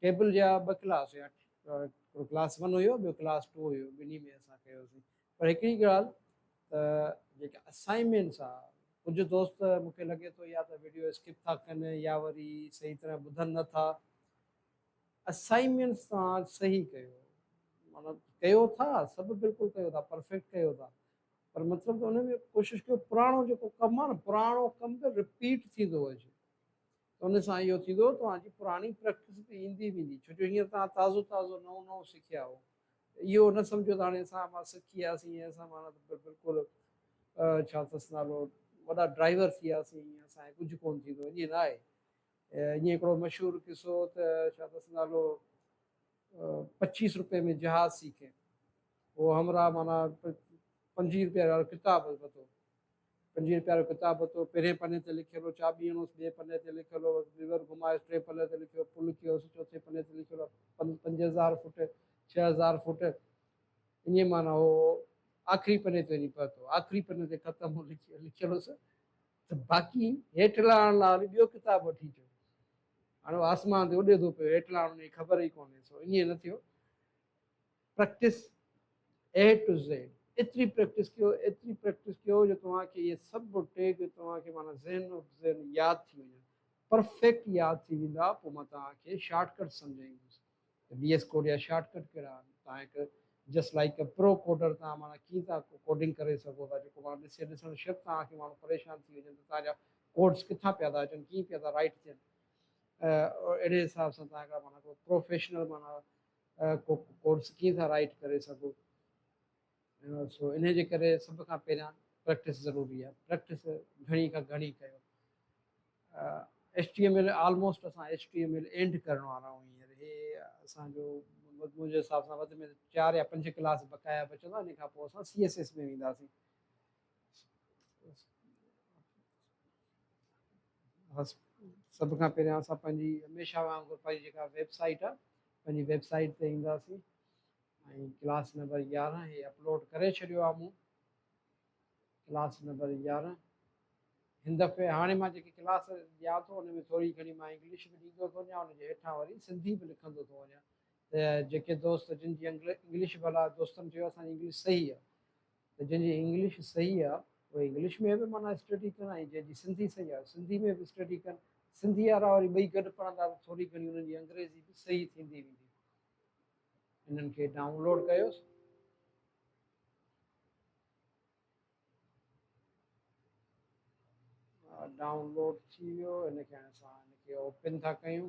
Table جا ٻه class هيا هڪڙو ڪلاس ون هيو ٻيو ڪلاس ٽو هيو ٻنهي ۾ اسان ڪيوسين پر هڪڙي ڳالهه ته جيڪي اسائنمينٽس آ ڪجهه دوست مون کي لڳي ٿو يا ته وڊيو اسڪپ ٿا ڪن يا وري صحيح طرح ٻڌن نه ٿا اسائنمينٽس توهان صحيح ڪيو معنيٰ ڪيو ٿا سڀ بلڪل ڪيو ٿا پرفيڪٽ ڪيو ٿا پر مطلب ته ان ۾ ڪوشش ڪيو پراڻو جيڪو ڪم آ نه پراڻو ڪم به رپيٽ ٿيندو اچي ته ان سان اهو ٿيندو توهان جي پراڻي پريڪٽس به ايندي ويندي ڇو جو هينئر توهان تازو تازو نئون نئون سکيا هو ته اهو نه سمجهو ته هاڻي اسان مان سکي وياسين ۽ اسان مان ته بلڪل ڇا اٿس نالو وڏا ڊرائيور ٿي وياسين اسان کي ڪجهه ڪونه ٿيندو ائين نه آهي ائين هڪڙو مشهور قصو ته ڇا اٿس نالو پچيس روپئي ۾ جهاز سيکي اهو همراهه معنيٰ پنجويهه روپئي وارو ڪتاب ورتو پنجويهه روپيا جو ڪتاب ورتو، پهرين پني تي لکيل هو، چاٻي هڻوس، ٻئي پني تي لکيل هو، ليور گهمايس، ٽئين پني تي لکيل هو، پل ڪيوس، چوٿين پني تي لکيل هو، پنج پنج هزار فوٽ، ڇهه هزار فوٽ، اڃي معنيٰ هو، آخري پني تي وڃي پهتو، آخري پني تي ختم هو، لکيل هوس ته باقي هيٺ لهڻ لاء وري ٻيو ڪتاب وٺي اچو. هاڻي هو آسمان تي اڏيدو پيو، هيٺ لهڻ ان جي خبر ئي ڪونهيس، هو اڃي نه ٿيو. پريڪٽس اي ٽو زيڊ ايتري پريڪٽس ڪيو ايتري پريڪٽس ڪيو جو توهان کي اهي سڀ ٽيگ توهان کي معنيٰ ذهن و ذهن ياد ٿي وڃن پرفيڪٽ ياد ٿي ويندا پوء مان توهان کي شارٽ ڪٽس سمجهائيندس ته وي ايس ڪوڊ يا شارٽ ڪٽ ڪهڙا آهن توهان هڪ just like a pro coder توهان معنيٰ ڪيئن ٿا ڪوڊنگ ڪري سگهو ٿا جيڪو معنيٰ ڏسي ڏسڻ شرط توهان کي ماڻهو پريشان ٿي وڃن ته توهان جا ڪوڊس ڪٿان پيا ٿا اچن ڪيئن پيا ٿا رائيٽ ٿين اهڙي حساب سان توهان هڪڙا معنيٰ پروفيشنل معنيٰ ڪو ڪورس ڪيئن ٿا رائيٽ ڪري سگهو سو ان جي ڪري سڀ کان پهريان پريڪٽس ضروري آهي پريڪٽس گهڻي کان گهڻي ڪيو H T M L almost اسان H T M L end ڪرڻ وارا آهيون هينئر هي اسانجو منهنجي حساب سان وڌ ۾ چار يا پنج ڪلاس بقايا بچندا ان کان پوء اسان سي ايس ايس ۾ وينداسين سڀ کان پهريان اسان پنهنجي هميشه وانگر پنهنجي جيڪا ويب سائيٽ آهي پنهنجي ويب سائيٽ تي اينداسين ۽ ڪلاس نمبر يارهن هي اپلوڊ ڪري ڇڏيو آهي مون ڪلاس نمبر يارهن هن دفعي هاڻي مان جيڪي ڪلاس ڏيان ٿو ان ۾ ٿوري گهڻي مان انگلش به ڏيندو ٿو وڃان ان جي هيٺان وري سنڌي به لکندو ٿو وڃان ته جيڪي دوست جن جي انگلش انگلش ڀلا دوستن چيو اسان جي انگلش صحيح آهي ته جنهن جي انگلش صحيح آ اهي انگلش ۾ به معنيٰ اسٽڊي ڪن ۽ جنهن جي سنڌي صحيح آ سنڌي ۾ به اسٽڊي ڪن سنڌي وارا وري ٻئي گڏ پڙهندا ته ٿوري گهڻي انهن جي انگريزي به صحيح ٿيندي ويندي انهن کي ڊائونلوڊ ڪيوس ڊائونلوڊ ٿي ويو هن کي هاڻي اسان هن کي اوپن ٿا ڪيون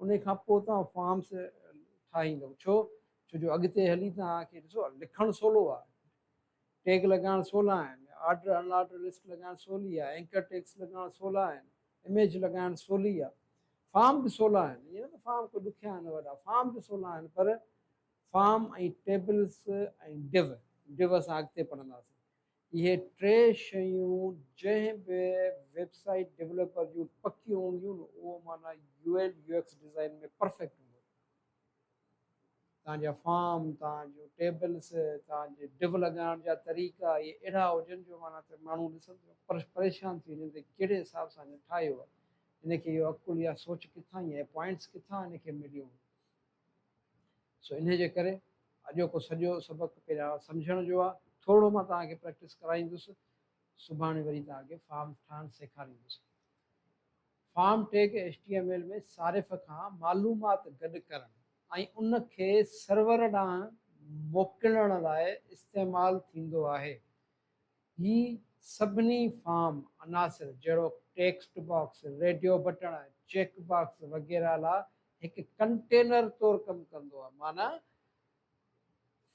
انهي کان پوء توهان فارمس ٺاهيندؤ ڇو ڇو جو اڳتي هلي توهان کي ڏسو لکڻ سولو آهي ٽيگ لڳائڻ سولا آهن آرڊر ان آرڊر لسٽ لڳائڻ سولي آهي اينڪر ٽيگس لڳائڻ سولا آهن اميج لڳائڻ سولي آهي فارم به سولا آهن ائين نه ته فارم ڪو ڏکيا آهن وڏا فارم به سولا آهن پر فارم ۽ ٽيبلس ۽ ڊو ڊو اسان اڳتي پڙهنداسين اهي ٽي شيون جنهن به ويب سائيٽ ڊيولپر جون پڪيون هونديون نه اهو معنيٰ U L U X design ۾ perfect هوندو. توهان جا فارم، توهان جون ٽيبلز، توهان جي ڊو لڳائڻ جا طريقا اهي اهڙا هجن جو معنيٰ ته ماڻهو ڏسن ته پريشان ٿي وڃن ته ڪهڙي حساب سان هن ٺاهيو آهي. هن کي اهو عقل يا سوچ ڪٿان ۽ اهي پوائنٽس ڪٿان هن کي مليون. سو انهي جي ڪري اڄوڪو سڄو سبق پهريان سمجهڻ جو آهي ٿورڙو مان توهان کي پريڪٽس ڪرائيندس سڀاڻي وري توهان کي فارم ٺاهڻ سيکاريندس form tag H T M L ۾ صارف کان معلومات گڏ ڪرڻ ۽ ان کي سرور ڏانهن موڪلڻ لاء استعمال ٿيندو آهي هي سڀني فارم عناصر جهڙوڪ ٽيڪسٽ باڪس، ريڊيو بٽڻ، چيڪ باڪس وغيره لا هڪ ڪنٽينر طور ڪم ڪندو آهي معنيٰ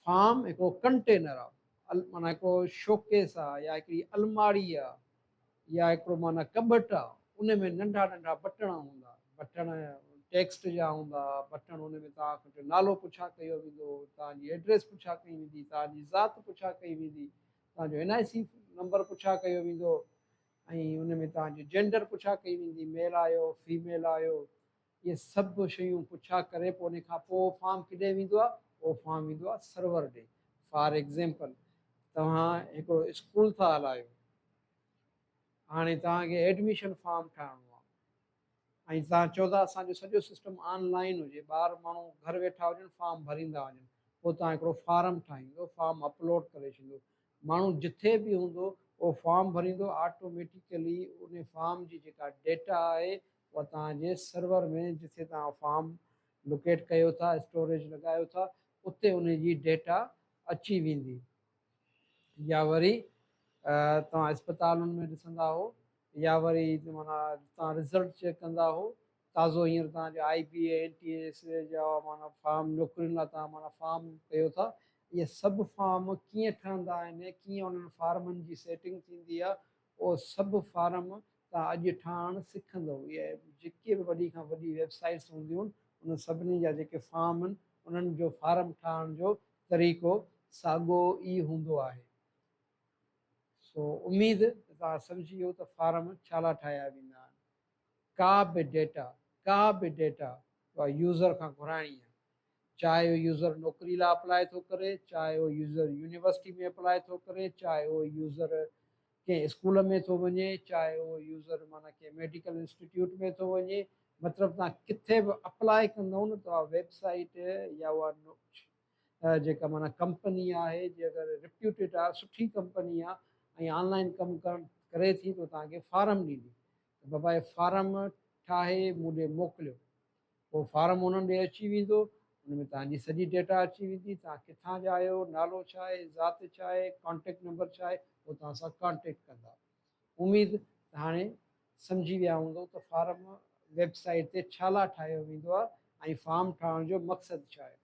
فارم هڪڙو ڪنٽينر آهي معنيٰ هڪڙو شوڪيس آهي يا هڪڙي الماڙي آهي يا هڪڙو معنيٰ ڪٻٽ آهي ان ۾ ننڍا ننڍا بٽڻ هوندا بٽڻ ٽيڪسٽ جا هوندا بٽڻ ان ۾ توهان کان جو نالو پڇا ڪيو ويندو توهان جي ايڊريس پڇا ڪئي ويندي توهان جي ذات پڇا ڪئي ويندي توهان جو اين آء سي نمبر پڇا ڪيو ويندو ۽ ان ۾ توهان جي جينڊر پڇا ڪئي ويندي ميل آهيو فيميل آهيو اهي سڀ شيون پڇا ڪري پوء ان کان پوء فارم ڪڏهن ويندو آهي اهو فارم ويندو آهي سرور ڏي فار ايگزيمپل توهان هڪڙو اسڪول ٿا هلايو هاڻي توهان کي ايڊميشن فارم ٺاهڻو آهي ۽ تهان چئو ٿا اسان جو سڄو سسٽم آن لائين هجي ٻاهر ماڻهو گهر ويٺا هجن فارم ڀريندا وڃن پوء تهان هڪڙو فارم ٺاهيندو فارم اپلوڊ ڪري ڇڏيندو ماڻهو جٿي به هوندو اهو فارم ڀريندو آٽوميٽيڪلي انهي فارم جي جيڪا ڊيٽا آهي اها تهان جي سرور ۾ جٿي تهان فارم لوڪيٽ ڪيو ٿا اسٽوريج لڳايو ٿا اتي انهي جي ڊيٽا اچي ويندي يا وري توهان اسپتالن ۾ ڏسندا هو يا وري معنيٰ تان رزلٽ چيڪ ڪندا هو تازو هينئر تان جو I B A N T A S A جا معنيٰ فارم نوڪرين لا تان معنيٰ فارم ڪيو ٿا اهي سڀ فارم ڪيئن ٺهندا آهن ڪيئن انهن فارمن جي سيٽنگ ٿيندي آهي اهو سڀ فارم تان اڄ ٺاهڻ سکندو اهي جيڪي به وڏي کان وڏي ويب سائيٽس هونديون انهن سڀني جا جيڪي فارم آهن انهن جو فارم ٺاهڻ جو طريقو ساڳو ئي هوندو آهي. سو اميد ته توهان سمجهي ويو ته فارم ڇالا ٺاهيا ويندا آهن. ڪا به ڊيٽا ڪا به ڊيٽا اها يوزر کان گهرائڻي آهي. چاهي اهو يوزر نوڪري لاء اپلائي ٿو ڪري، چاهي اهو يوزر يونيورسٽي ۾ اپلائي ٿو ڪري، چاهي اهو يوزر ڪنهن اسڪول ۾ ٿو وڃي، چاهي اهو يوزر معنيٰ ڪنهن ميڊيڪل انسٽيٽيوٽ ۾ ٿو وڃي، مطلب توهان ڪٿي به اپلائي ڪندئو نه ته اها ويب سائيٽ يا اها جيڪا معنيٰ ڪمپني آهي جي اگر رپيوٽيڊ آهي سٺي ڪمپني آهي ۽ آنلائن ڪم ڪرڻ ڪري ٿي تو توهان کي فارم ڏيندي ته بابا هي فارم ٺاهي مون ڏي موڪليو پوء فارم انهن ڏي اچي ويندو ان ۾ توهان جي سڄي ڊيٽا اچي ويندي توهان ڪٿان جا آهيو نالو ڇا آهي ذات ڇا آهي ڪانٽيڪٽ نمبر ڇا آهي هو توهان سان ڪانٽيڪٽ ڪندا اميد ته هاڻي سمجهي ويا هوندو ته فارم ويب سائيٽ تي ڇا لاء ٺاهيو ويندو آهي ۽ فارم ٺاهڻ جو مقصد ڇا آهي.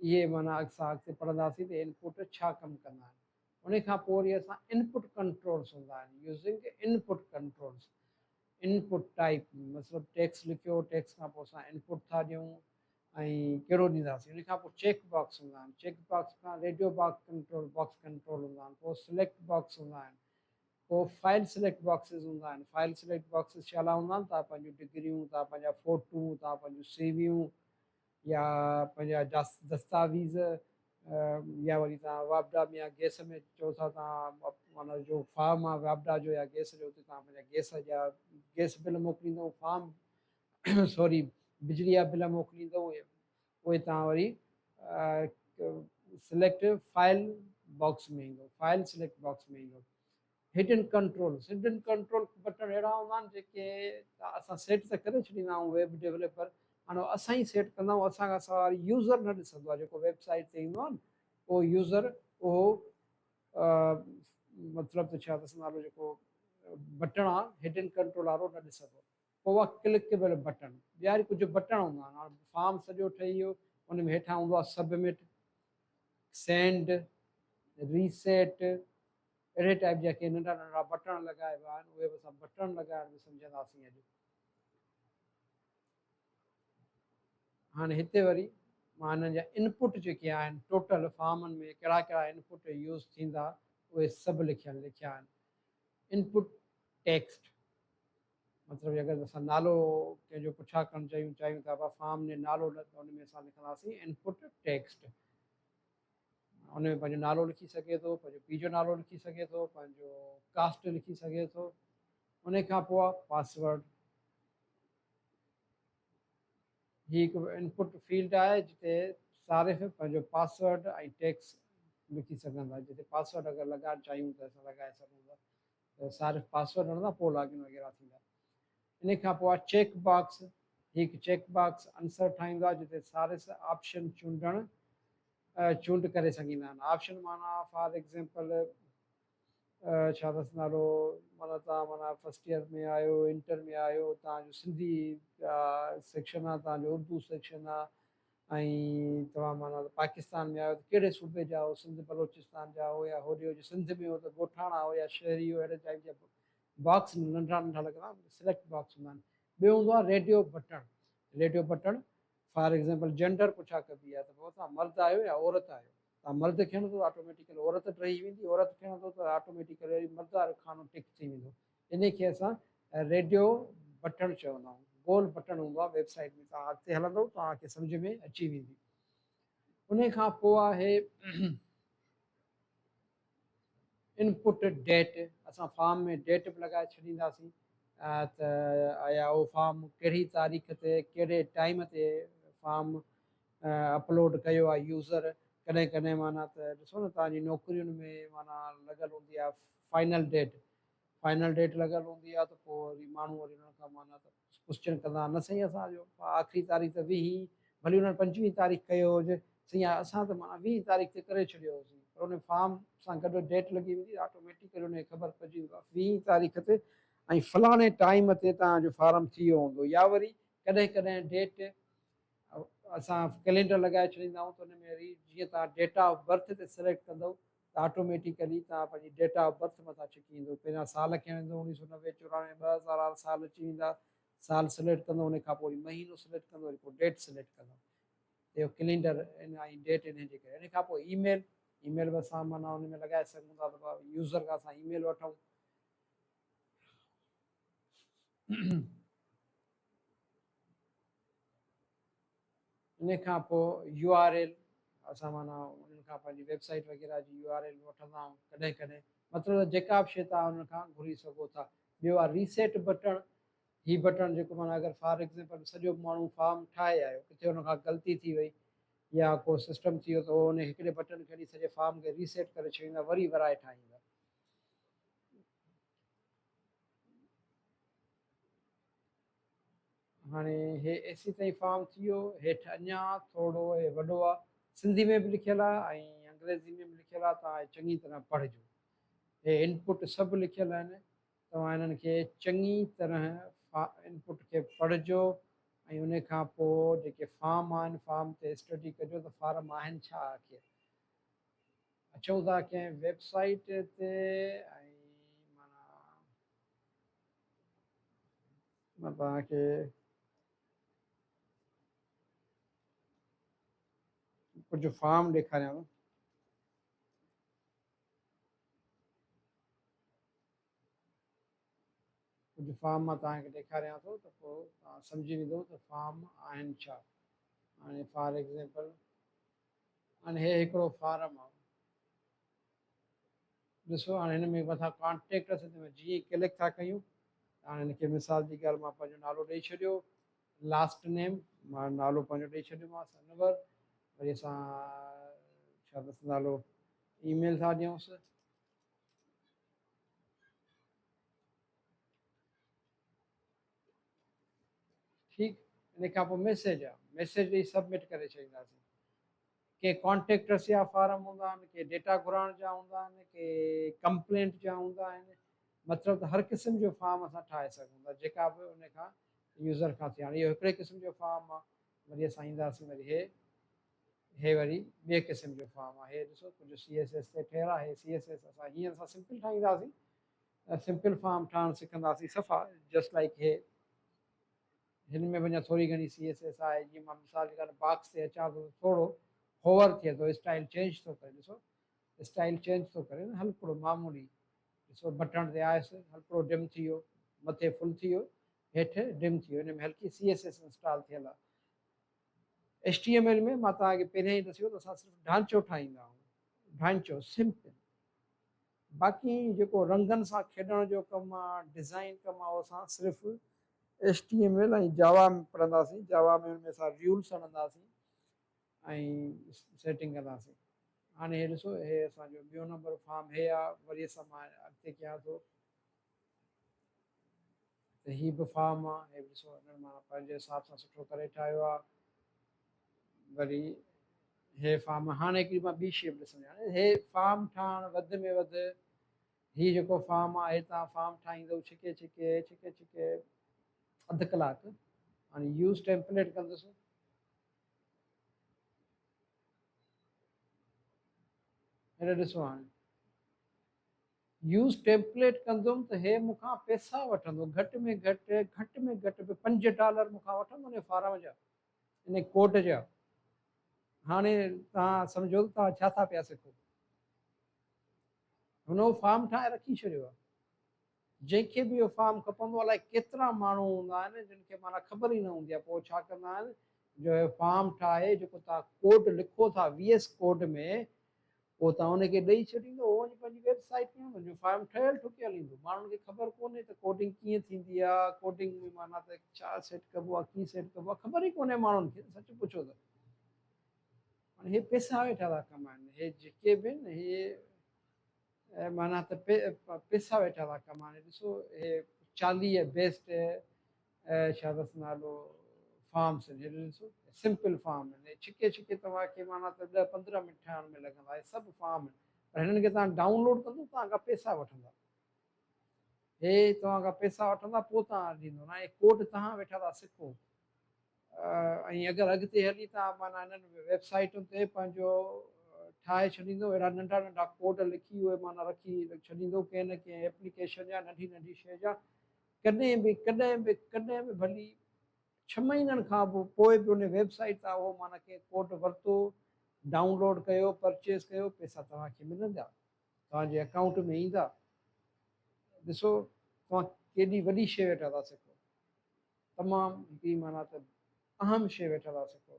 اهي معنيٰ اڳسان اڳتي پڙهنداسين ته ان پٽ ڇا ڪم ڪندا آهن. انهي کان پوء وري اسان ان پٽ ڪنٽرولز هوندا آهن using input controls input type مطلب ٽيڪسٽ لکيو ٽيڪسٽ کان پوء اسان ان پٽ ٿا ڏيون ۽ ڪهڙو ڏينداسين انهي کان پوء چيڪ باڪس هوندا آهن چيڪ باڪس کان radio box control box control هوندا آهن پوء سليڪٽ باڪس هوندا آهن پوء فائل سليڪٽ باڪسز هوندا آهن فائل سليڪٽ باڪسز ڇا لاء هوندا آهن تان پنهنجون ڊگريون تان پنهنجا فوٽون تان پنهنجون سي ويون يا پنهنجا دستاويز يا وري توهان واپڊا ۾ يا گئس ۾ چئو ٿا توهان جو فارم آهي واپڊا جو يا گئس جو اتي توهان پنهنجا گئس جا گئس بل موڪليندو فارم سوري بجلي جا بل موڪليندو اهي توهان وري سليڪٽ فائل باڪس ۾ ايندو فائل سليڪٽ باڪس ۾ ايندو هڊن ڪنٽرولز، Hidden Controls، بٽڻ اهڙا هوندا آهن جيڪي اسان سيٽ ته ڪري ڇڏيندا آهيون ويب ڊيوليپر هاڻي اسان ئي سيٽ ڪندا آهيون اسان کان سواء وري يوزر نه ڏسندو آهي جيڪو ويب سائيٽ تي ايندو آهي اهو يوزر اهو مطلب ته ڇا ڏسندا آهيون جيڪو بٽڻ آهي هڊن ڪنٽرول وارو نه ڏسندو پوء اها ڪلڪيبل بٽڻ ٻيا وري ڪجهه بٽڻ هوندا آهن هاڻي فارم سڄو ٺهي ويو ان ۾ هيٺان هوندو آهي سبمٽ سينڊ ريسيٽ اهڙي ٽائيپ جا ڪي ننڍا ننڍا بٽڻ لڳايا ويا آهن اهي به اسان بٽڻ لڳائڻ به سمجهنداسين اڄ هاڻي هتي وري مان هنن جا انپٽ جيڪي آهن ٽوٽل فارمن ۾ ڪهڙا ڪهڙا انپٽ يوز ٿيندا اهي سڀ لکيل لکيا آهن انپٽ ٽيڪسٽ مطلب اگر اسان نالو ڪنهن جو پڇا ڪرڻ چاهيون چاهيون ٿا فارم ۾ نالو ان ۾ اسان لکنداسين انپٽ ٽيڪسٽ ان ۾ پنهنجو نالو لکي سگهي ٿو پنهنجو پيء جو نالو لکي سگهي ٿو پنهنجو ڪاسٽ لکي سگهي ٿو ان کان پوء پاسورڊ هي هڪ انپوٽ فيلڊ آهي جتي صارف پنهنجو پاسورڊ ۽ ٽيڪس لکي سگهن ٿا جتي پاسورڊ اگر لڳائڻ چاهيون ته اسان لڳائي سگهون ٿا ته صارف پاسورڊ هڻندا پوء لاگ ان وغيره ٿيندا ان کان پوء چيڪ باڪس هي هڪ چيڪ باڪس انسر ٺاهيندو آهي جتي صارف آپشن چونڊڻ چونڊ ڪري سگهيندا آهن آپشن معنيٰ فار ايگزيمپل ڇا اٿس نالو معنيٰ تان معنيٰ فرسٽ ايئر ۾ آهيو انٽر ۾ آهيو تان جو سنڌي سيڪشن آهي تان جو اردو سيڪشن آهي ۽ توهان معنيٰ پاڪستان ۾ آهيو ته ڪهڙي صوبي جا آهيو سنڌ بلوچستان جا آهيو يا هوڏي هجي سنڌ ۾ هو ته ڳوٺاڻا آهيو يا شهري آهيو اهڙي ٽائيپ جا باڪس ننڍا ننڍا لڳل آهن سليڪٽ باڪس هوندا آهن ٻيو هوندو آهي ريڊيو بٽڻ ريڊيو بٽڻ فار ايگزامپل جينڊر پڇا ڪبي آهي ته بابا توهان مرد آهيو يا عورت آهيو توهان مرد کڻندو ته آٽوميٽيڪل عورت ٽهي ويندي عورت کڻندو ته آٽوميٽيڪل وري مرد وارو خانو ٽڪ ٿي ويندو ان کي اسان ريڊيو بٽڻ چوندا آهيون گول بٽڻ هوندو آهي ويب سائيٽ ۾ توهان اڳتي هلندو توهان کي سمجھ ۾ اچي ويندي ان کان پوء آهي ان پٽ ڊيٽ اسان فارم ۾ ڊيٽ به لڳائي ڇڏينداسين ته آيا اهو فارم ڪهڙي تاريخ تي ڪهڙي ٽائيم تي فارم اپلوڊ ڪيو آهي يوزر ڪڏهن ڪڏهن معنيٰ ته ڏسو نه تنهنجي نوڪرين ۾ معنيٰ لڳل هوندي آهي فائنل ڊيٽ فائنل ڊيٽ لڳل هوندي آهي ته پوء وري ماڻهو وري ان کان معنيٰ ته ڪوسچن ڪندا نه سائين اسان جو آخري تاريخ ته ويهه ئي ڀلي انهن پنجويهه تاريخ ڪيو هجي سائين اسان ته معنيٰ ويهه تاريخ تي ڪري ڇڏيو هوسين پر انهي فارم سان گڏ ڊيٽ لڳي ويندي آٽوميٽيڪلي انهي خبر پئجي ويندو آهي ويهه ئي تاريخ تي ۽ فلاڻي ٽائيم تي توهان جو فارم ٿي ويو هوندو يا وري ڪڏهن ڪڏهن ڊيٽ اسان ڪلينڊر لڳائي ڇڏيندا آهيون ته انهي ۾ وري جيئن توهان ڊيٽ آف برٿ تي سليڪٽ ڪندؤ ته آٽوميٽيڪلي توهان پنهنجي ڊيٽ آف برٿ مٿان ڇڪي ويندو پهريان سال کڻي ويندو اڻيهه سؤ نوي چورانوي ٻه هزار وارا سال اچي ويندا سال سليڪٽ ڪندو ان کان پوء وري مهينو سليڪٽ ڪندو وري پوء ڊيٽ سليڪٽ ڪندو اهو ڪلينڊر ان ۽ ڊيٽ انهن جي ڪري ان کان پوء اي ميل اي ميل به اسان معنيٰ ان ۾ لڳائي سگهون ٿا ته يوزر کان اسان اي ميل وٺون انهي کان پوء يو آر ايل اسان معنيٰ انهن کان پنهنجي ويب سائيٽ وغيره جي يو آر ايل وٺندا آهيون ڪڏهن ڪڏهن مطلب ته جيڪا به شيء تان انهن کان گهري سگهو ٿا ٻيو آهي ريسيٽ بٽڻ هي بٽڻ جيڪو معنيٰ اگر فار ايگزامپل سڄو ماڻهو فارم ٺاهي آيو ڪٿي ان کان غلطي ٿي وئي يا ڪو سسٽم ٿي ويو ته هو ان هڪڙي بٽڻ کي سڄي فارم کي ريسيٽ ڪري ڇڏيندا وري ورائي ٺاهيندا هاڻي هي ايسي تائين فارم ٿي ويو هيٺ اڃا ٿورو هي وڏو آ سنڌي ۾ به لکيل آ ۽ انگريزي ۾ به لکيل آ توهان هي چڱي طرح پڙهجو هي انپوٽ سڀ لکيل آهن توهان هنن کي چڱي طرح انپوٽ کي پڙهجو ۽ ان کان پوء جيڪي فارم آهن فارم تي اسٽڊي ڪجو ته فارم آهن ڇا آخر اچو ٿا ڪنهن ويب سائيٽ تي ۽ معنيٰ مان توهان کي ڪجهه فارم ڏيکاريان ٿو ڪجهه فارم مان توهان کي ڏيکاريان ٿو ته پوء توهان سمجهي ويندو ته فارم آهن ڇا هاڻي فار ايگزامپل هاڻي هي هڪڙو فارم آهي ڏسو هاڻي هن ۾ مٿان ڪانٽيڪٽ اٿس تنهن جي ئي ڪلڪ ٿا ڪيون هاڻي هن کي مثال جي ڳالهه مان پنهنجو نالو ڏئي ڇڏيو لاسٽ نيم مان نالو پنهنجو ڏئي ڇڏيومانس انور وري اسان ڇا اٿس نالو اي ميل ٿا ڏيونس ٺيڪ ان کان پوء ميسيج آ ميسيج ڏيئي سبمٽ ڪري ڇڏينداسين ڪي ڪانٽيڪٽس جا فارم هوندا آهن ڪي ڊيٽا گهرائڻ جا هوندا آهن ڪي ڪمپلينٽ جا هوندا آهن مطلب ته هر قسم جو فارم اسان ٺاهي سگهون ٿا جيڪا به ان کان يوزر کان ٿي هاڻي اهو هڪڙي قسم جو فارم آ وري اسان اينداسين وري هي هي وري ٻئي قسم جو فارم آ هي ڏسو ڪجهه سي ايس ايس تي ٺهيل آ هي سي ايس ايس اسان هيئن اسان سمپل ٺاهينداسين سمپل فارم ٺاهڻ سکنداسين صفا جسٽ لائيڪ هي هن ۾ به اڃا ٿوري گهڻي سي ايس ايس آهي جيئن مان مثال جي ڳالهه باڪس تي اچان ٿو ٿورو هوور ٿئي ٿو اسٽائل چينج ٿو ڪري ڏسو اسٽائل چينج ٿو ڪري نه هلڪڙو معمولي ڏسو بٽڻ تي آيس هلڪڙو ڊم ٿي ويو مٿي فل ٿي ويو هيٺ ڊم ٿي ويو هن ۾ هلڪي سي ايس ايس انسٽال ٿيل آهي ايچ ٽي ايم ايل ۾ مان توهان کي پهريان ئي ڏسيو ته اسان صرف ڍانچو ٺاهيندا آهيون ڍانچو سمپل باقي جيڪو رنگن سان کيڏڻ جو ڪم آ ڊزائين ڪم آ اسان صرف HTML ۽ Java ۾ پڙهنداسين Java ۾ ان ۾ اسان ريولس هڻنداسين ۽ سيٽنگ ڪنداسين هاڻي هي ڏسو هي اسان جو ٻيو نمبر فارم هي آ وري اسان مان اڳتي ڪيان ٿو ته هي به فارم آ هي به ڏسو هنن معنيٰ پنهنجي حساب سان سٺو ڪري ٺاهيو آ وري هي فارم هاڻي هڪڙي مان ٻي شيپ ڏسڻ يعني هي فارم ٺاهڻ وڌ ۾ وڌ هي جيڪو فارم آ هي تان فارم ٺاهيندو ڇڪي ڇڪي ڇڪي ڇڪي اڌ ڪلاڪ هاڻي يوز ٽيمپليٽ ڪندس هن ڏسو هاڻي يوز ٽيمپليٽ ڪندم ته هي مون کان پئسا وٺندو گهٽ ۾ گهٽ گهٽ ۾ گهٽ به پنج ڊالر مون کان وٺندو ان فارم جا ان ڪوڊ جا هاڻي تهان سمجهو ته تهان ڇا ٿا پيا سکو هن اهو فارم ٺاهي رکي ڇڏيو آهي جنهن کي به اهو فارم کپندو الاء ڪيترا ماڻهو هوندا آهن جن کي مانا خبر ئي نه هوندي آهي پوء ڇا ڪندا آهن جو هي فارم ٺاهي جيڪو تهان ڪوڊ لکو ٿا وي ايس ڪوڊ ۾ پوء توهان ان کي ڏئي ڇڏيندو، هو وڃي پنهنجي ويب سائيٽ ۾ هن جو فارم ٺهيل ٺڪيل ايندو. ماڻهن کي خبر ڪونهي ته ڪوڊنگ ڪيئن ٿيندي آهي، ڪوڊنگ ۾ معنيٰ ته ڇا سيٽ ڪبو آهي، ڪيئن سيٽ ڪبو آهي، خبر ئي ڪونهي ماڻهن کي، سچ پڇو ته. هاڻي هي پئسا ويٺا ٿا ڪمائن، هي جيڪي به آهن هي معنيٰ ته پئسا ويٺا ٿا ڪمائن. ڏسو هي چاليهه بيسٽ شابس نالو فارم سنجهي ڏنسون سمپل فارم آهن هي ڇڪي ڇڪي توهان کي معنيٰ ته ڏهه پندرهن منٽ ٺاهڻ ۾ لڳندا هي سڀ فارم آهن پر هنن کي توهان ڊائونلوڊ ڪندو توهان کان پيسا وٺندا هي توهان کان پيسا وٺندا پوء توهان ڏيندو نه هي ڪوڊ توهان ويٺا ٿا سکو ۽ اگر اڳتي هلي توهان معنيٰ هنن ويب سائيٽن تي پنهنجو ٺاهي ڇڏيندو اهڙا ننڍا ننڍا ڪوڊ لکي اهي معنيٰ رکي ڇڏيندو ڪنهن نه ڪنهن ايپليڪيشن جا ننڍي ننڍي شي جا ڪڏهن به ڪڏهن به ڪڏهن به ڀلي ڇهه مهينن کان به پوء به ان ويب سائيٽ تان اهو معنيٰ ڪنهن ڪوڊ ورتو، ڊائون لوڊ ڪيو، پرچيز ڪيو، پئسا توهان کي ملندا، توهان جي اڪائونٽ ۾ ايندا. ڏسو توهان ڪيڏي وڏي شيء ويٺا ٿا سکو. تمام هڪڙي معنيٰ ته اهم شيء ويٺا ٿا سکو.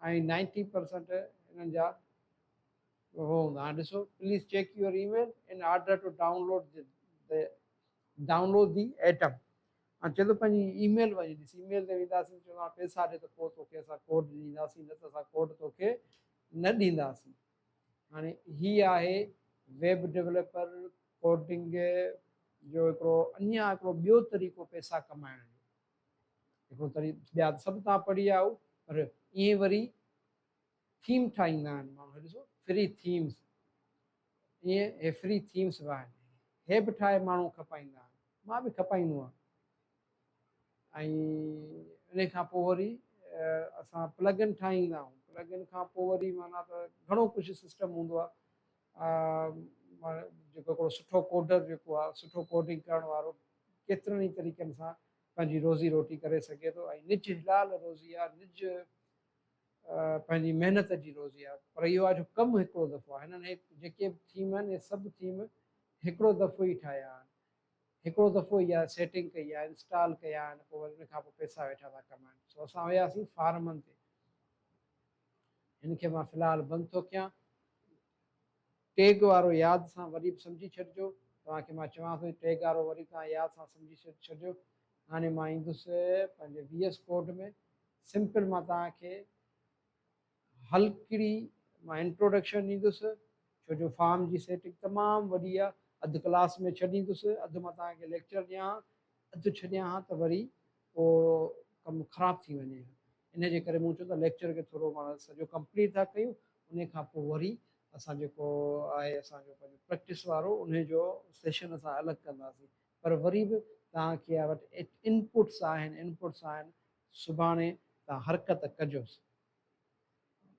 ۽ نائنٽي پرسنٽ انهن جا اهو هوندا هاڻي ڏسو please check your email in order to download the download the item هاڻي چئي ٿو پنهنجي اي ميل وڃي ڏس اي ميل تي وينداسين چوندو هاڻي پئسا ڏي ته پوء توکي اسان ڪوڊ ڏينداسين نه ته اسان ڪوڊ توکي نه ڏينداسين هاڻي هي آهي ويب ڊيولپر ڪوڊنگ جو هڪڙو اڃا هڪڙو ٻيو طريقو پئسا ڪمائڻ جو هڪڙو تري ٻيا ته سڀ توهان پڙهي آيا آهيو پر ائين وري ٿيم ٺاهيندا آهن ماڻهو هي ڏسو فري ٿيمز ائين هي فري ٿيمز به آهن هي به ٺاهي ماڻهو کپائيندا آهن مان به کپائيندو آهيان ۽ ان کان پوء وري اسان پلگن ٺاهيندا آهيون پلگن کان پوء وري معنيٰ ته گهڻو ڪجهه سسٽم هوندو آهي جيڪو هڪڙو سٺو ڪوڊر جيڪو آهي سٺو ڪوڊنگ ڪرڻ وارو ڪيترن ئي طريقن سان پنهنجي روزي روٽي ڪري سگهي ٿو ۽ نج حلال روزي آهي نج پنهنجي محنت جي روزي آهي پر اهو آهي جو ڪم هڪڙو دفعو آهي هنن جيڪي به ٿيم آهن اهي سڀ ٿيم هڪڙو دفعو ئي ٺاهيا آهن هڪڙو دفعو ئي اها سيٽنگ ڪئي آهي انسٽال ڪيا آهن پوء وري ان کان پوء پئسا ويٺا ٿا ڪمائن سو اسان وياسين فارمن تي هن کي مان في الحال بند ٿو ڪيان. ٽيگ وارو ياد سان وري به سمجهي ڇڏجو. توهان کي مان چوان ٿو ته ٽيگ وارو وري توهان ياد سان سمجهي ڇڏجو. هاڻي مان ايندس پنهنجي وي ايس ڪوڊ ۾. سمپل مان توهان کي هلڪڙي مان انٽروڊڪشن ڏيندس ڇو جو فارم جي سيٽنگ تمام وڏي آهي. اڌ ڪلاس ۾ ڇڏيندس، اڌ مان توهان کي ليڪچر ڏيان ها، اڌ ڇڏيان ها ته وري ڪو ڪم خراب ٿي وڃي ها ان جي ڪري مون چيو ته ليڪچر کي ٿورو پاڻ سڄو ڪمپليٽ ٿا ڪيون ان کان پوء وري اسان جيڪو آهي اسان جو پنهنجو پريڪٽس وارو ان جو سيشن اسان الڳ ڪنداسين پر وري به توهان کي آء وٽ انپوٽس آهن انپوٽس آهن سڀاڻي توهان حرڪت ڪجوس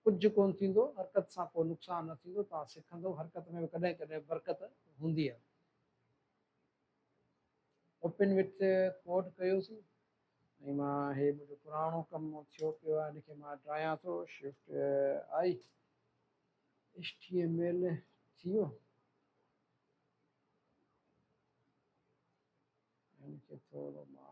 ڪجهه ڪون ٿيندو حرڪت سان ڪو نقصان نه ٿيندو توهان سکندو حرڪت ۾ به ڪڏهن ڪڏهن برڪت هوندي آهي اوپن وٿ ڪوڊ ڪيوسين ۽ مان هي منهنجو پراڻو ڪم ٿيو پيو آهي ان کي مان ڊرايان ٿو shift I H T M L ٿي ويو ان کي ٿورو مان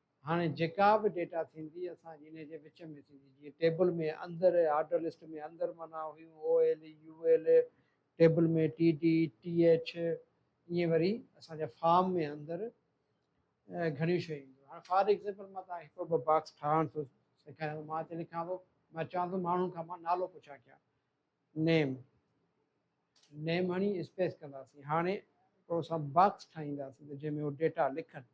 هاڻي جيڪا به ڊيٽا ٿيندي اسان جي انهي جي وچ ۾ ٿيندي جيئن ٽيبل ۾ اندر آرڊر لسٽ ۾ اندر معنيٰ هيون O L U L table ۾ T D T H ائين وري اسان جا فارم ۾ اندر گهڻيون شيون اينديون هاڻي فار ايگزيمپل مان تهان کي هڪڙو ٻه باڪس ٺاهڻ ٿو سيکاريان مان هتي لکان ٿو مان چوان ٿو ماڻهن کان مان نالو پڇا ڪيان نيم نيم هڻي اسپيس ڪنداسين هاڻي هڪڙو اسان باڪس ٺاهينداسين جنهن ۾ هو ڊيٽا لکن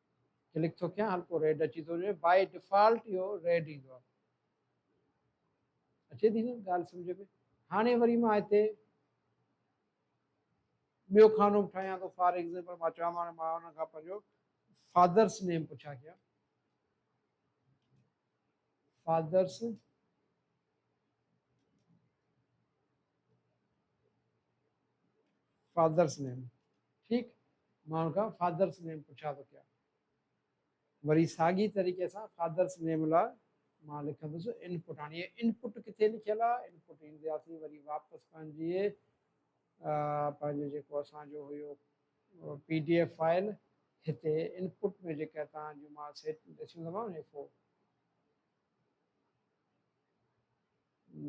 ڪلڪ ٿو ڪيان هلڪو ريڊ اچي ٿو وڃي بائي ڊيفالٽ اهو ريڊ ايندو آهي اچي ٿي نه ڳالهه سمجھ ۾ هاڻي وري مان هتي ٻيو کانو به ٺاهيان ٿو فار ايگزامپل مان چوان مان مان ان کان پنهنجو فادرس نيم پڇا ڪيان فادرس فادرس نيم ٺيڪ ماڻهن کان فادرس نيم پڇا ٿو ڪيا وري ساڳي طريقي سان فادرس نيم لا مان لکندس انپوٽ هاڻي انپوٽ کي لکيل آ انپوٽ ايندياسي وري واپس پنهنجي پنهنجو جيڪو اسان جو هيو پي ڊي ايف فائل هتي ان پٽ ۾ جيڪا توهان جون مان سيٽنگ ڏسيون ٿا مانو ايف او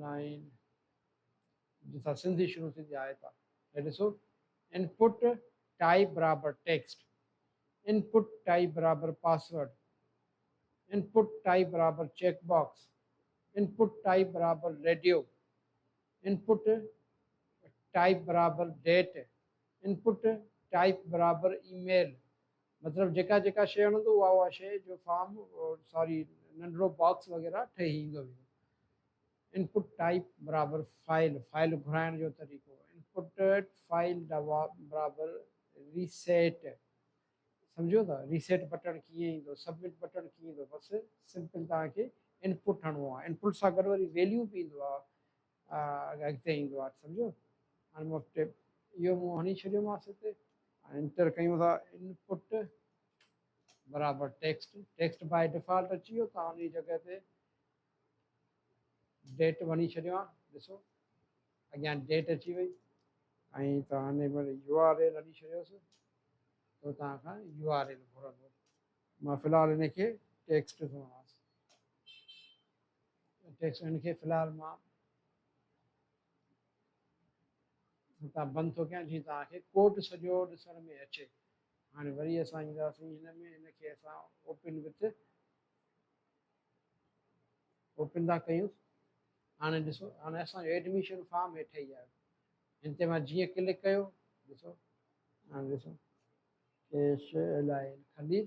نائن جتان سنڌي شروع ٿيندي آهي تا هي ڏسو ان پٽ ٽائپ برابر ٽيڪسٽ ان پٽ ٽائپ برابر پاسورڊ ان پٽ ٽائپ برابر check box input type برابر ريڊيو ان پٽ ٽائپ برابر ڊيٽ انپٽ ٽائپ برابر اي ميل مطلب جيڪا جيڪا شيء هڻندو اها اها شيء جو فارم ساري ننڍڙو باڪس وغيره ٺهي ايندو ويندو. انپٽ ٽائپ برابر فائل فائل گهرائڻ جو طريقو انپٽ فائل برابر ريسيٽ سمجهيو ٿا ريسيٽ بٽڻ ڪيئن ايندو سبمٽ بٽڻ ڪيئن ايندو بس سمپل توهان کي انپٽ هڻو آهي انپٽ سان گڏ وري ويليو به ايندو آهي اڳتي ايندو آهي سمجهيو هاڻي مفت اهو مون هڻي ڇڏيومانس هتي هاڻي انٽر ڪيون ٿا انپٽ برابر ٽيڪسٽ ٽيڪسٽ باء ڊيفالٽ اچي ويو تان ان جگه تي ڊيٽ وڻي ڇڏيو آن ڏسو اڳيان ڊيٽ اچي وئي ۽ تان هن يو آر ايل هڻي ڇڏيوسي تو تان کان يو آر ايل گهرندو مان في الحال ان کي ٽيڪسٽ ٿو هڻاس ٽيڪس هن کي في الحال مان هتان بند ٿو ڪيان جي توهان کي ڪوڊ سڄو ڏسڻ ۾ اچي هاڻي وري اسان اينداسين هن ۾ هن کي اسان اوپن وٿ اوپن ٿا ڪيون هاڻي ڏسو هاڻي اسانجو ايڊميشن فارم هيٺ ئي آيو هن تي مان جيئن ڪلڪ ڪيو ڏسو هاڻي ڏسو ايش الايل خليل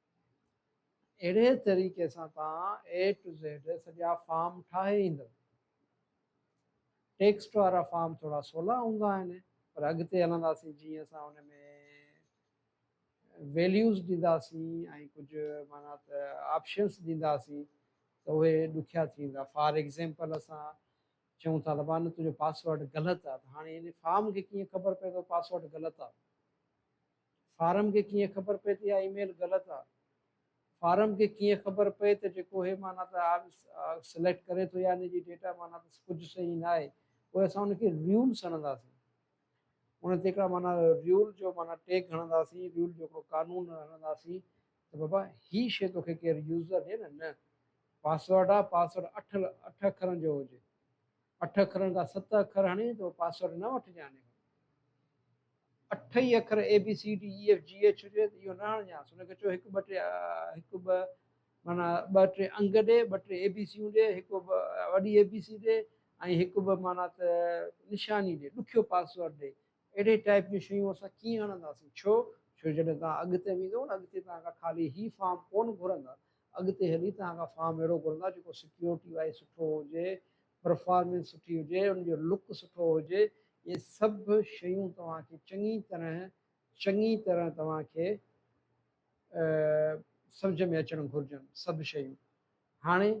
اهڙي طريقي سان توهان اي ٽو زيڊ سڄا فارم ٺاهي ايندؤ. ٽيڪسٽ وارا فارم ٿورا سولا هوندا آهن پر اڳتي هلنداسين جيئن اسان ان ۾ ويليوز ڏينداسين ۽ ڪجهه معنيٰ ته آپشنس ڏينداسين ته اهي ڏکيا ٿي ويندا فار ايگزيمپل اسان چئون ٿا ته مان تنهنجو پاسورڊ غلط آهي ته هاڻي ان فارم کي ڪيئن خبر پئي ته پاسورڊ غلط آهي فارم کي ڪيئن خبر پئي ته اها اي ميل غلط آ. فارم کي ڪيئن خبر پئي ته جيڪو هي معنيٰ ته سليڪٽ ڪري ٿو يعني جي ڊيٽا معنيٰ ته ڪجهه صحيح نه آهي پوء اسان ان کي ريول سڏنداسين ان تي هڪڙا معنيٰ ريول جو معنيٰ ٽيگ هڻنداسين ريول جو هڪڙو قانون هڻنداسين ته بابا هي شي توکي ڪير يوزر ڏي نه نه پاسورڊ آ پاسورڊ اٺ اٺ اکرن جو هجي اٺ اکرن کان ست اکر هڻي تو پاسورڊ نه وٺجانس. اٺ ئي اکر A B C D E F G H هجي ته اهو نه هڻجانس. هن کي چئو هڪ ٻه ٽي هڪ ٻه معنيٰ ٻه ٽي انگ ڏي، ٻه ٽي اي بي سيون ڏي، هڪ وڏي اي بي سي ڏي ۽ هڪ ٻه معنيٰ ته نشاني ڏي، ڏکيو پاسورڊ ڏي. اهڙي ٽائيپ جون شيون اسان ڪيئن هڻنداسين؟ ڇو؟ ڇو جڏهن توهان اڳتي ويندو نه اڳتي توهان کان خالي هي فارم ڪونه گهرندا. اڳتي هلي توهان کان فارم اهڙو گهرندا جيڪو سڪيورٽي وائيز سٺو هجي، پرفارمنس سٺي هجي، ان جو لڪ سٺو هجي، اهي سڀ شيون توهان کي چڱي طرح چڱي طرح توهان کي سمجهه ۾ اچڻ گهرجن سڀ شيون. هاڻي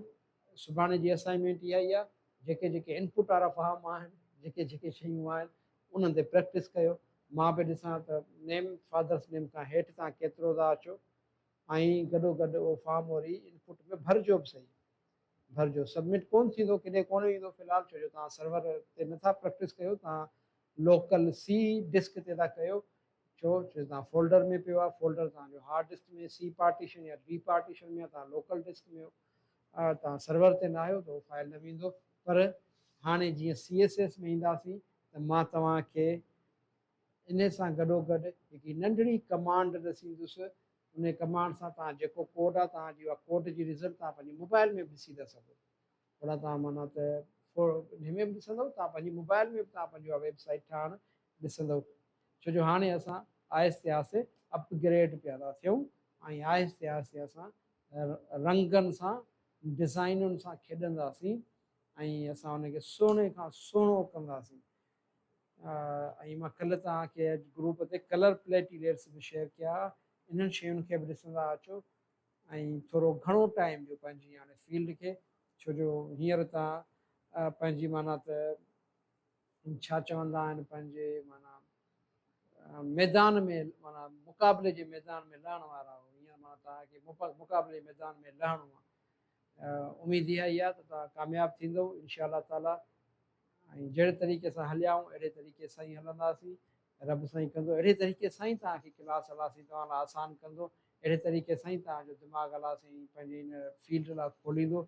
سڀاڻي جي اسائنمينٽ اها ئي آهي جيڪي جيڪي انپوٽ وارا فارم آهن جيڪي جيڪي شيون آهن انهن تي پريڪٽس ڪيو مان به ڏسان ته نيم فادرس نيم کان هيٺ توهان ڪيترو ٿا اچو. ائين گڏوگڏ اهو فارم وري ان پٽ ۾ ڀرجو به سهي ڀرجو سبمٽ ڪونه ٿيندو ڪيڏي ڪونه ويندو في الحال ڇو جو توهان سرور تي نٿا پريڪٽس ڪيو توهان لوڪل سي ڊسڪ تي ٿا ڪيو ڇو ڇو جو توهان فولڊر ۾ پيو آهي فولڊر توهان جو هارڊ ڊسڪ ۾ سي پارٽيشن يا ڊي پارٽيشن ۾ توهان لوڪل ڊسڪ ۾ توهان سرور تي نه آهيو ته اهو فائل نه ويندو پر هاڻي جيئن سي ايس ايس ۾ اينداسين ته مان توهان کي انهي سان گڏوگڏ هڪڙي ننڍڙي ڪمانڊ ڏسيندس، انهي ڪمانڊ سان توهان جيڪو ڪوڊ آهي توهان جي اها ڪوڊ جي رزلٽ توهان پنهنجي موبائل ۾ به ڏسي ٿا سگهو. اوڏانهن توهان معنيٰ ته انهي ۾ به ڏسندؤ توهان پنهنجي موبائل ۾ به توهان پنهنجي اها ويب سائيٽ ٺاهڻ ڏسندؤ. ڇو جو هاڻي اسان آهستي آهستي اپ گريڊ پيا ٿا ٿيون ۽ آهستي آهستي اسان رنگن سان ڊزائينن سان کيڏنداسين ۽ اسان ان کي سهڻي کان سهڻو ڪنداسين. ۽ مان ڪلهه توهان کي گروپ تي ڪلر پليٽي ليئرس به شيئر ڪيا انهن شين کي به ڏسندا اچو ۽ ٿورو گهڻو ٽائيم ڏيو پنهنجي هاڻي فيلڊ کي ڇو جو هينئر توهان پنهنجي معنيٰ ته ڇا چوندا آهن پنهنجي معنيٰ ميدان ۾ معنيٰ مقابلي جي ميدان ۾ لهڻ وارا آهو هينئر معنيٰ توهان کي مقابلي جي ميدان ۾ لهڻو آهي اميد اها ئي آهي ته توهان ڪامياب ٿيندو انشاء الله تعالٰي ۽ جهڙي طريقي سان هليائون اهڙي طريقي سان ئي هلنداسين رب سائين ڪندو اهڙي طريقي سان ئي توهان کي ڪلاس الله سائين توهان لاء آسان ڪندو اهڙي طريقي سان ئي توهان جو دماغ الله سائين پنهنجي ان فيلڊ لاء کوليندو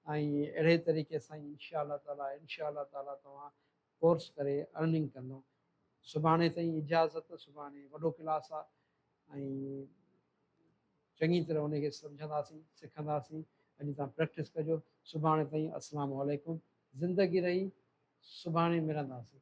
۽ اهڙي طريقي سان ئي انشاء الله تعالي انشاء الله تعالي توهان ڪورس ڪري ارننگ ڪندو سڀاڻي تائين اجازت سڀاڻي وڏو ڪلاس آهي ۽ چڱي طرح انهي کي سمجهنداسين سکنداسين اڄ تان پريڪٽس ڪجو سڀاڻي تائين السلام عليڪم زندگي رهي سڀاڻي ملنداسين.